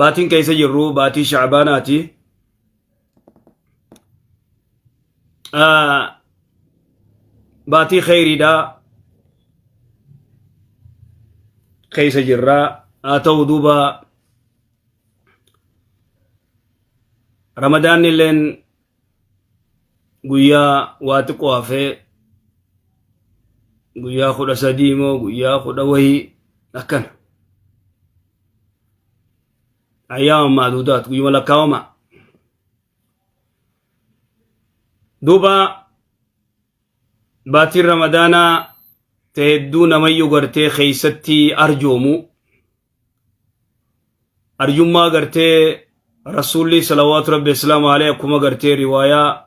baatiin keessa jirru baatii shaabaanaati baatii kheyriidha keessa jirra haa ta'u duuba ramadaanni illeen guyyaa waa xiqqoo hafee guyyaa kudha sadii moo guyyaa kudha wayii akkana ayyaama maaduudaat guyyuma lakkaawama duuba baatiin ramadaanaa ta hedduu namayyuu gartee keeysatti arjoomu arjummaa gartee rasuulli salawaatu rabbi islaama alee akkuma gartee riwaayaa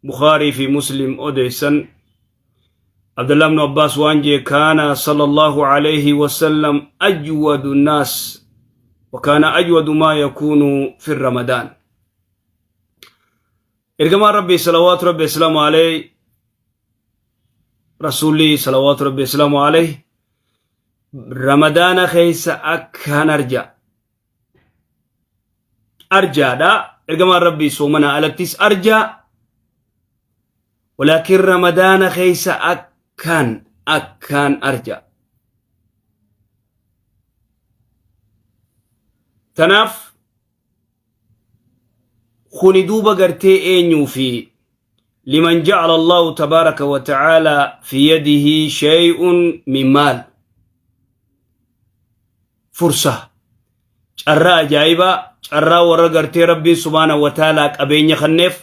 bukaarii fi muslim odeessan abdullah ibnu abbaas waan jee kaana sallallahu alayhi wasallam ajwadu naas wakaana ajwadu maa yakuunu fi ramadaan Ergamaan Rabbii salawaatu Rabbi islaamu alayhi rasuulli salawaatu Rabbi islaamu alayhi ramadaana keessa akkaan arja arjaadha ergamaan Rabbii soomana alattis arjaa walaakin ramadaana keessa akkaan akkaan arja tanaaf kuni duuba gartee eenyuu fi liman ja'ala allahu tabaaraka wa ta'aala fi yadihi shay'un min maal fursa carraa ajaa'ibaa carraa warra gartee rabbiin subhaana wa ta'aala qabeenya kanneef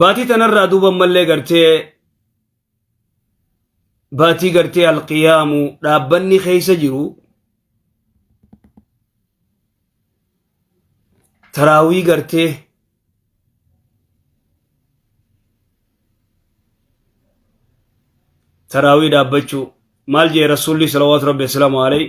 Baatii tanarraa duuba ammallee gartee baatii gartee alqiyaamu dhaabbanni keessa jiru taraawii gartee taraawii dhaabbachuu maal jee rasuulli salawaatu rabbi assalaamu alayhi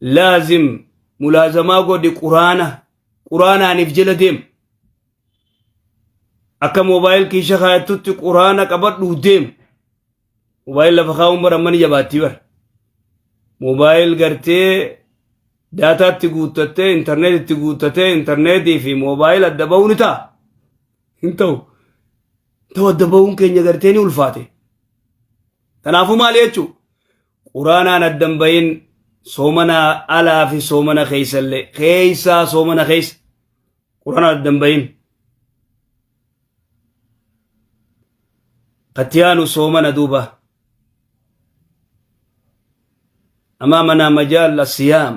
laazim mulaazamaa godhi quraana quraanaaniif jala deem akka moobaayil kiisha kaayattutti quraana qabadhu deem moobaayil lafa kaa'uun bara mana jabaattii bara moobaayil gartee daataatti guuttattee intarneetitti guuttattee intarneetii fi moobaayil adda ba'uu ni ta'a hin ta'u ta'u adda ba'uun keenya gartee ni ulfaate kanaafuu maal jechuu Quraanaan adda hin bahin soomana alaa fi soomana keessa illee keessaa soomana keessa quraanaan adda hin bahin. Katiyaanu soomana duuba. Amaamanaa majaalla siyaam.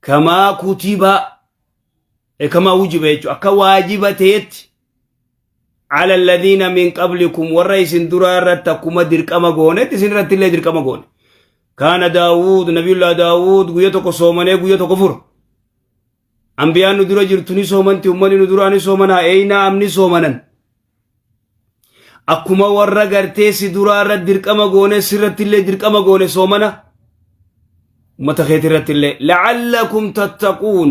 kamaa kutibaa e kamaa wujiba jechuun akka waajiba ta'etti ala alladhiina min qablikum warra isin duraa irratti akkuma dirqama goonetti isin irratti illee dirqama goone kaana daawud nabiyullah daawud guyya tokko soomanee guyya tokko fura ambiyaan nu dura jirtu ni soomanti ummanni nu duraa ni soomanaa eeynaa amni soomanan akkuma warra gartee si duraa irratti dirqama goone sirratti illee dirqama goone soomana ummata keeti irratti illee la'allakum tattaquun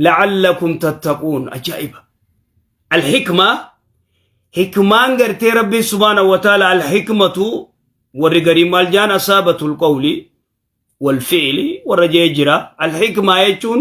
la'allakum tattaquun ajaa'iba alhikma hikmaan gartee rabbiin subhaana wa taala alhikmatu warri garii maal jaan asaabatul qawli wal fi'li warra jee jira alhikmaa jechuun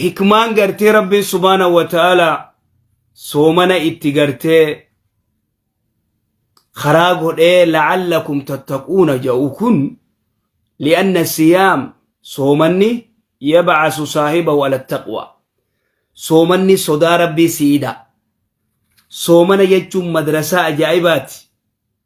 hikmaan gartee rabbiin subhaana wa ta'ala soomana itti gartee karaa godhee la'allakum tattaquuna ja'u kun li'anna siyaam soomanni yabcasu saahiba wala taqwa soomanni sodaa rabbii si'ida soomana jechuun madrasaa ajaa'ibaati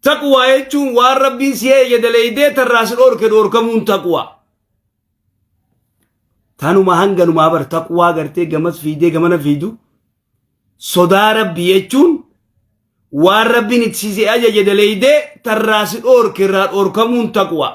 Taqwaa jechuun waan rabbiin si eeyye daleeydee tarraa si dhoorke dhoorkamuun taqwaa. Tanuma hanganumaa bar taqwaa gartee gamas fiidee gamana fiidu sodaa rabbi jechuun waan rabbiin itti si ajaje daleeydee tarraa si dhoorke irraa dhoorkamuun taqwaa.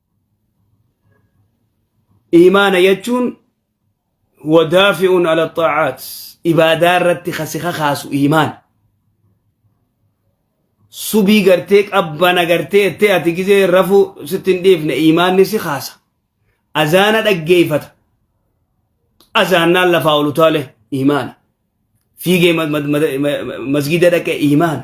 iimaana jechuun huwa daafi'un ala xaacaat ibaadaa irratti kasi kakaasu iimaana subii gartee qabbana gartee ettee ati gizee rafuu sitti hin dhiifne iimaanni si kaasa azaana dhaggeeyfata azaannaan lafaa ol utaale iimaana fiigee masgida dhaqe iimaana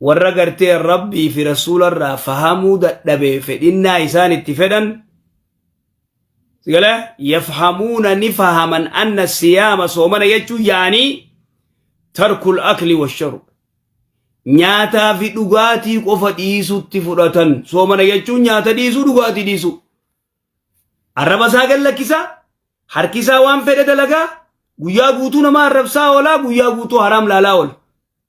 warra gartee rabbii fi rasuularraa fahamuu dadhabe fedhinnaa isaan itti fedhan sigala yafhamuuna ni fahaman anna siyaama soomana jechuu yaanii tarkul akli washarub nyaataa fi dhugaatii qofa dhiisutti fudhatan soomana jechuun nyaata dhiisuu dhugaatii dhiisuu arraba isaa gad lakkisaa harki isaa waan fedhe dalagaa guyyaa guutuu nama arrabsaa oolaa guyyaa guutuu haraam laalaa oola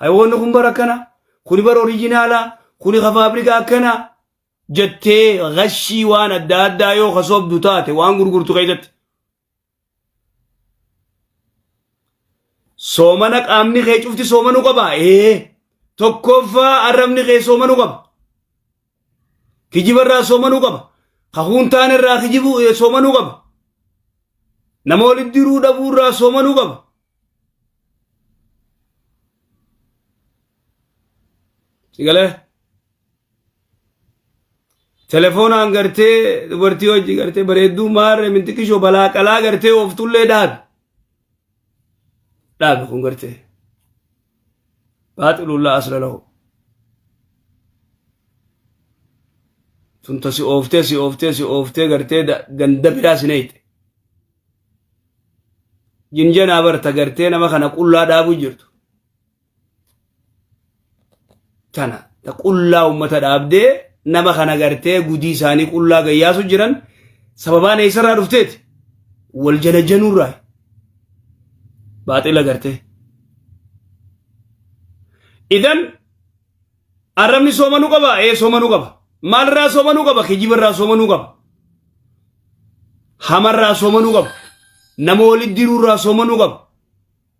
Hayawoonni kun bara akkana, kuni bara orijinaala, kuni ka faabrika akkana jettee gashii waan adda addaa yoo ka sobdu taate waan gurgurtu keessatti. Soomana qaamni kee cufti soomanuu qaba. Ee tokkoffaa arrabni kee soomanuu qaba. Kijiba irraa soomanuu qaba. Kakuun taan irraa kijibu eh, soomanuu qaba. Nama walitti diruu dhabuu irraa soomanuu qaba. Sigalee telefoonaan gartee dubartii hojii gartee bareedduu maarre mintiqishoo balaa qalaa gartee ooftullee dhaabi. Dhaabi kun gartee. baaxilun laa asla lahu tunta si ooftee si ooftee si ooftee gartee ganda biraa si neeyte jinjanaa barta gartee nama kana qullaa dhaabu jirtu tana ta qullaa ummata dhaabdee nama kana gartee gudii isaanii qullaa gayyaasu jiran sababaan eessarraa dhufteeti wal jalajanuurraa baaxila gartee idan arrabni soomanuu qaba ee soomanuu qaba maalirraa soomanuu qaba kijibarraa soomanuu qaba hamarraa soomanuu qaba nama walitti diruurraa soomanuu qaba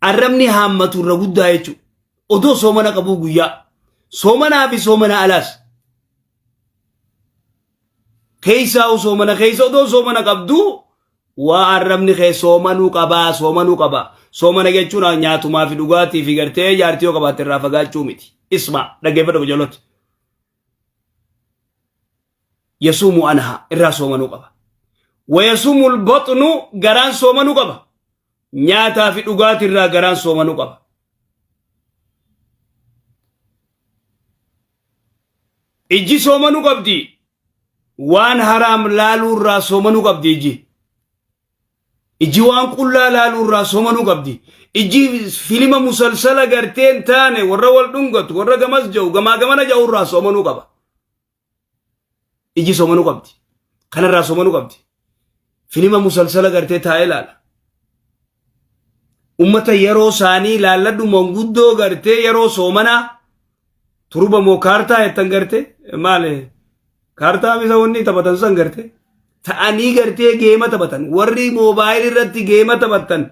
arrabni haammatu irra guddaa jechuudha. Odoo soomana qabuu guyyaa soomanaa fi soomana alaas keessaa soomana keessa odoo soomana qabduu waa arrabni kee soomanuu qabaa soomanuu qabaa soomana jechuun nyaatumaa fi dhugaatii fi gartee jaartii yoo qabaatte irraa fagaachuu miti isma dhaggeeffadha ijoollota. yasuumu anhaa irraa soomanuu qaba wayasuumu lbaxnu garaan soomanuu qaba nyaataa fi dhugaati irraa garaan soomanuu qaba ijji soomanuu qabdi waan haraam laaluu irraa soomanuu qabdi ijji ijji waan qullaa laaluu irraa soomanuu qabdi ijji filima musalsala garteen taane warra wal dhungatu warra gamas ja'u gamaa gamana ja'u irraa soomanuu qaba iji somanuu qabdi kanarraa somanuu qabdi filima musalsala gartee taa'ee laala ummata yeroo isaanii laalladhu manguddoo gartee yeroo soomanaa turba moo kaartaa jettan gartee maale kaartaa misa wanni taphatan san gartee ta'anii gartee geema taphatan warri moobaayil irratti geema taphatan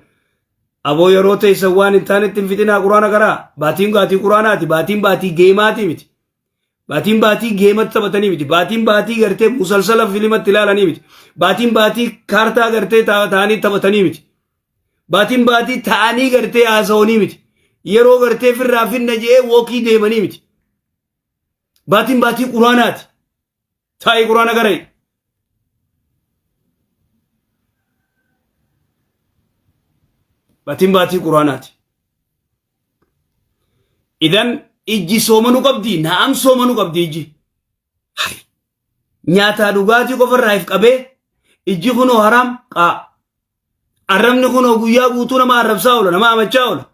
aboo yeroo teessan waan hin taanetti hin fixinaa quraana karaa baatiin baatii quraanaati baatiin baatii geemaati miti Baatiin baatii geematti taphatanii miti. Baatiin baatii gartee musalsala filimatti ilaalanii miti. Baatiin baatii kaartaa gartee ta- ta'anii taphatanii miti. Baatiin baatii ta'anii gartee haasa'anii miti. Yeroo gartee firraa finna je'ee wookii deemanii miti. Baatiin baatii quraanaati. Taa'ii quraana garee. Batiin baatii quraanaati. Idan ijji soomanu qabdi naam soomanu qabdi ijji. Hari. Nyaataa dhugaatii qofarraa if qabee ijji kunoo haraam qaa. Arrabni kunoo guyyaa guutuu nama arrabsaa oola, nama amachaa oola.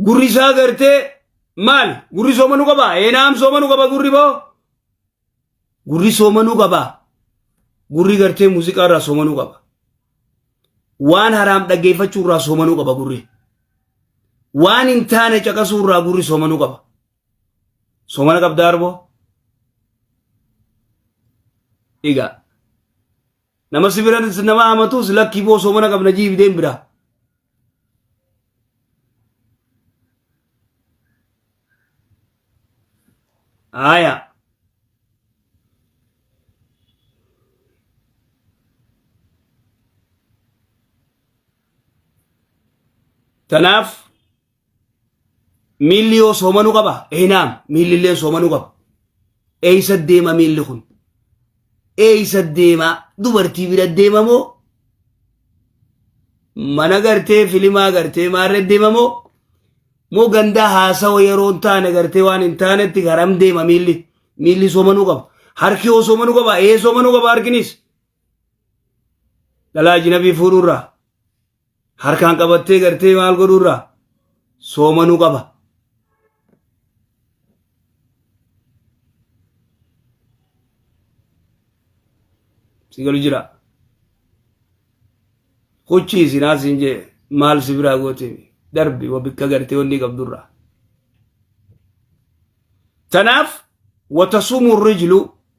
Gurri isaa gartee maali? Gurri soomanuu qaba? Eenaam soomanuu qaba gurri boo? Gurri soomanuu qaba. Gurri gartee muuziqaa irraa soomanuu qaba. Waan haraam dhaggeeffachuu irraa soomanuu qaba gurri. Waan hin taane caqasuu irraa gurri soomanuu qaba. Soomana qabdaa arboo? Egaa nama si bira nama hamatus lakkii boo soomana qabna jiif deem biraa. Aya. Tanaaf Miilli yoo soomanuu qaba? Eeynaam miilli illee soomanuu qaba. Eeysa deema miilli kun? Eeysa deema dubartii bira deema moo? Mana gartee filimaa gartee maarree deema moo? Moo gandaa haasawa yeroo hin taane gartee waan hin taanetti garam deema miilli? Miilli soomanuu qaba. Harki yoo soomanuu qaba? Ee soomanuu qaba harkinis. Dhalaa ajinabii fuudhuurraa. harkaan qabattee gartee maal godhuurra soomanuu qaba. Si galu jira. Huchii isin haasiin jee maal si biraa goote darbi wa bikka gartee wanni qabdurra. Tanaaf watasumu rijlu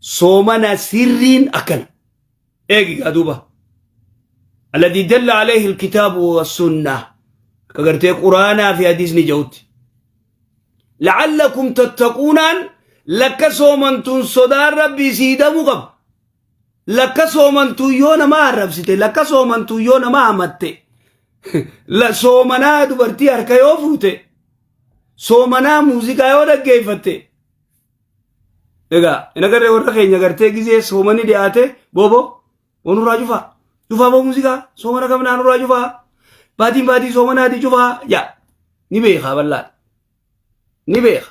soomana sirriin akkana eegi gaa duuba alladii dalla alayhi alkitaabu wassunnaa akka gartee quraanaa fi hadiisni ja'utti la'allakum tattaquunaan lakka soomantuun sodaan rabbii sii damuu qaba lakka soomantuun yoo namaa arrabsite lakka soomantuun yoo namaa hamatte la- soomanaa dubartii harka yoo fuute soomanaa muuziqaa yoo dhaggeeffatte Egaa hin agarree warra keenya gartee gizee soomani dhiyaate booboo wanurraa cufaa cufaa boo muuziqaa soomana kam naanurraa cufaa baatiin baatii soomanaati cufaa yaa ni beekaa bal'aan ni beeka.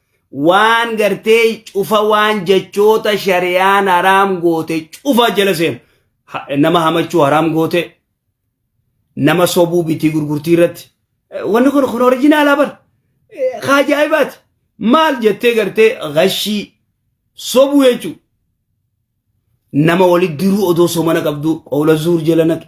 waan gartee cufa waan jechoota shari'aan haraam goote cufa jala seenu Ha- nama hamachuu haraam goote nama sobuu bitii gurgurtii irratti Eh, wanni kun kun orijinaalaa bar Eh, ka ajaa'ibaati maal jettee gartee gashii sobuu jechuu nama walitti diruu odoo somana qabdu qawla zuur jala naqe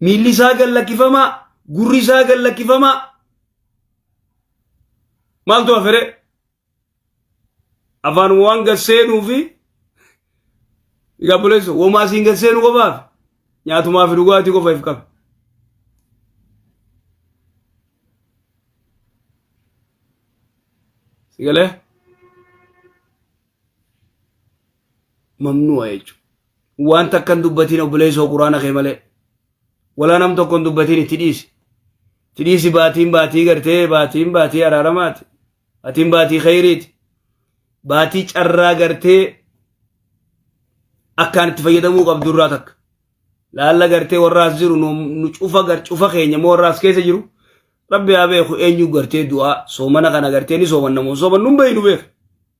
Miilli isaa gad lakkifamaa, gurri isaa gad lakkifamaa. Maaltu hafere? Afaan waan gad seenuu fi egaa buleessa womaa siin gad seenu qofaaf nyaatumaa fi dhugaatii qofa if qabe. Sigalee? mamnu'a jechuudha. Waan takka hin dubbatiin obboleessoo quraana kee malee. Walaa nam tokko hin dubbatiin itti dhiisi. Itti dhiisi baatiin baatii gartee baatiin baatii araaramaati. Baatiin baatii khayriiti. Baatii carraa gartee akkaan itti fayyadamuu qabdu irraa takka. Laalla gartee warra as jiru nu cufa gar cufa keenya moo warra as keessa jiru. Rabbi haa beeku eenyu gartee du'aa soomana kana gartee ni soomanna moo soomannu hin beeknu beeku.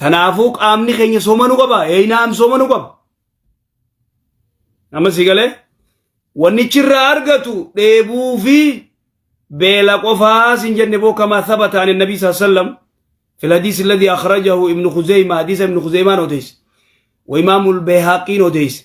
Kanaafuu qaamni keenya soomanuu qaba. Eeyinaam soomanuu qaba. Amma si galee wannichi irraa argatu dheebuu fi beela qofaa sin jenne boo kamaa thabataan nabii saa sallam fil hadiis alladhi akhrajahu ibnu khuzeyma hadiisa ibnu khuzeymaan odeesse wa imaamul beehaaqiin odeesse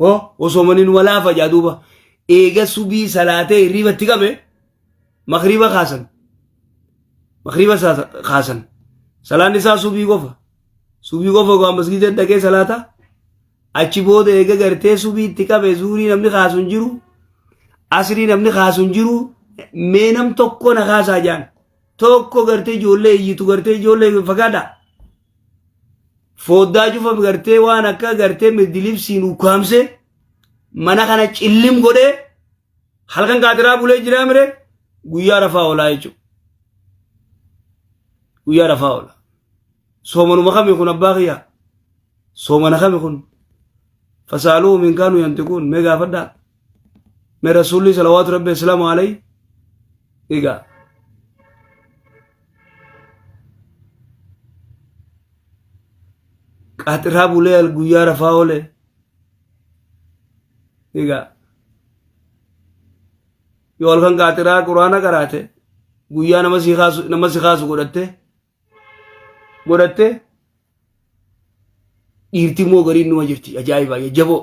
oo osomanin walaafa jaa duuba eega subii salaatee hirriiba itti qabe makriiba kaasan makriiba saa- kaasan salaan isaa subii qofa subii qofa waan masgiida dhaqee salaata achi booda eega gartee subii itti qabe zuurii namni kaasu hin jiru asrii namni kaasu hin jiru mee nam tokko na kaasaa jaan tokko gartee ijoollee iyyitu gartee ijoollee fagaadha fooddaa cufa gartee waan akka gartee mirdilibsiin ukkaamse mana kana cillim godhee halkan kaatiraa bulee jiraa mire guyyaa rafaa oolaa jechuudha. Guyyaa rafaa oola. Soomanuma kami kun abbaa kiyyaa? Soomana kami kun? Fasaaluu minkaanuu yantiquun mee gaafadhaa? mee rasuulli salawaatu rabbi islaamu alay egaa qaaxirraa bulee guyyaa rafaa oole egaa yoo halkan qaaxiraa quraana qaraate guyyaa nama si kaasu nama si kaasu godhatte godhatte dhiirti immoo gariin numa jirti ajaa'ibaa jajjaboo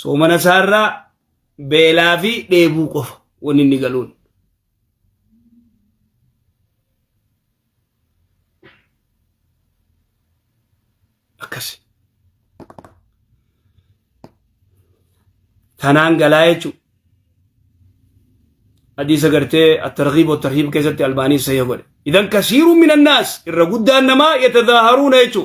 Soomana isaarraa beelaa fi dheebuu qofa wanni inni galuun. Akkasi. Tanaan galaa jechuudha. hadiisa gartee attarghiib wattarhiib keessatti albaanii sahih godhe idan kasiiruun min annaas irra guddaan namaa yatadaaharuuna jechuu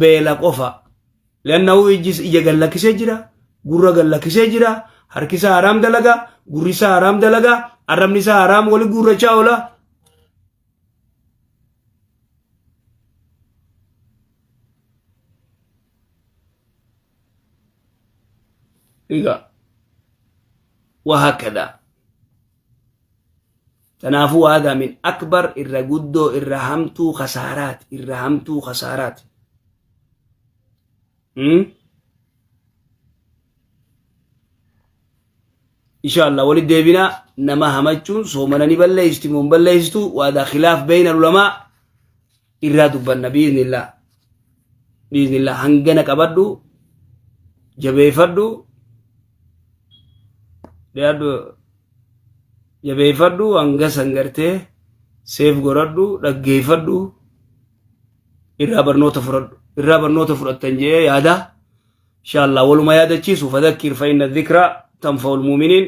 beela qofa lannahu ijjis ija gallakkisee jira gurra gallakkisee jira harki isaa haraam dalaga gurri isaa haraam dalaga arrabni isaa haraam wali guurrachaa oola egaa waa hakkadaa Kanaafuu waadaa min akbar irra guddoo irra hamtuu kasaaraati irra hamtuu kasaaraati. Inshaallah walitti deebina nama hamachuun soomana ni balleessitu moo hin balleessitu waadaa khilaaf beeyna ulamaa irraa dubbanna biiznillaa biiznillaa hangana qabadhu jabeeffadhu dhiyaadhu jabeeffadhu hanga san gartee seef godhadhu dhaggeeffadhu irraa barnoota fudhadhu irraa barnoota fudhattan jee yaada inshaallaa waluma yaadachiisu fadakkir fa'inna dhikraa tanfa'ul muuminiin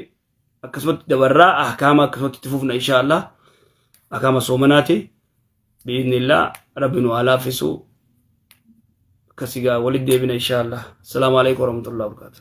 akkasumatti dabarraa ahkaama akkasumatti itti fufna inshaallah ahkaama soomanaati biiznillaa rabbi nu haa laaffisu akkasigaa walitti deebina inshaallah assalaamu alaikum warahmatullahi wabarakaatu